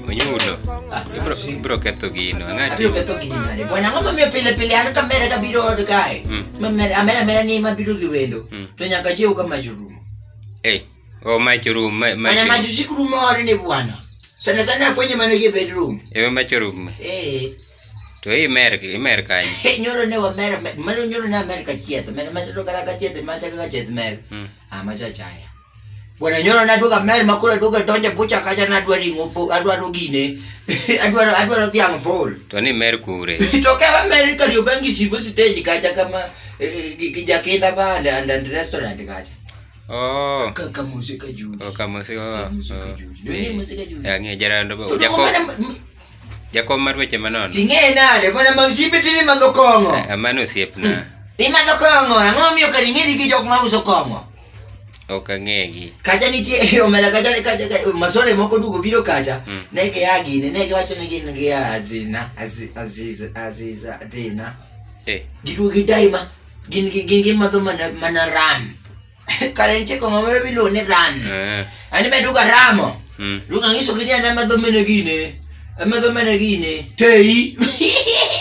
Onyulo. Ah, ibro ibro ketho gino. Ngati. Abiro ketho gini nade? Bwana ngoma mimi pile pile an ka mere ka biro od kae. Mm. Ma mere amera mere ni ma biro gi wendo. Mm. To nyaka chiew ka mach rumo. Eh. O mach rum, ma ma. Ana mach usiku rumo ore ne bwana. Sana sana afwenye mano ye bedroom. Ewe mach rum. Eh. To i mer i mer kanyo. Hey, nyoro ne wa mere mano nyoro ne Amerika chieth. Mere mach ro kara ka chieth mach ka chieth mere. Mm. Ah, mach achaya. Bwana nyoro na duoga mer ma koro duoga donje bucha kacha na dwa ringo fo adwaro gine adwaro adwaro dhiang fol to ni mer kure to ka wa mer ka yo bangi sivu stage kacha kama eh, gi gi jakenda ba and and, and restaurant kacha oh ka ka musika juu oh kama si oh Musika juu. Ni musika juu. ya ngi jara ndo ba To jako mana jako mar weche manon ting'e nade mana mag simbe tini madho kong'o amano osiepna imadho kong'o ang'o miyo kadi ing'edi gi jok ma uso kong'o Ok ang'egi. Kacha nitie e omera kacha ne kacha ka masore moko dugo biro kacha Mm. ne ke ya gine ne ke wacho ni gin gi azina aziz aziz aziz adina Eh, gidugo gi daima gin gi gin gi madho mana mana ram kare nitie kong'o moro biluongo ni ram ah, ani be duga ramo mm. duga ng'iso gini ana madho mene gine amadho mene gine teyi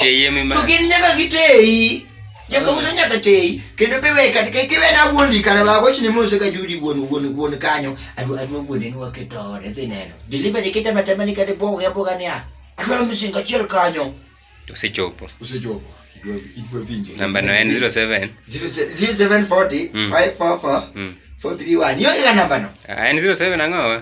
Teye mi ma. to gin nyaka giteyi Nyaka uso nyaka teyi kendo be we kata kik iwe na wuon di kala ba goch ni mose ka judi wuon wuon wuon kanyo adwa adwa wuon ni waketo ore dhi neno deliver ni kitama tama ni kata boga ya boga ni a adwa msinga chiel kanyo Usichopo. usechopo idwa idwa vinjo Namba no en 07. 0740 Mm. 544 Mm. 431 yo ga namba no Ah, En 07 ang'o?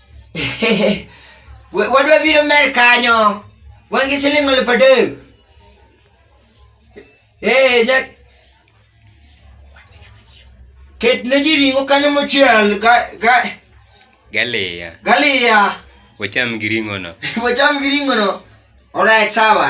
wadwa biro mer kanyo wan gi siling aluf adek ee nya ket ne ji ring'o kanyo mochiel ga ga galiya galiya wacham gi ring'ono wacham gi ring'ono orait sawa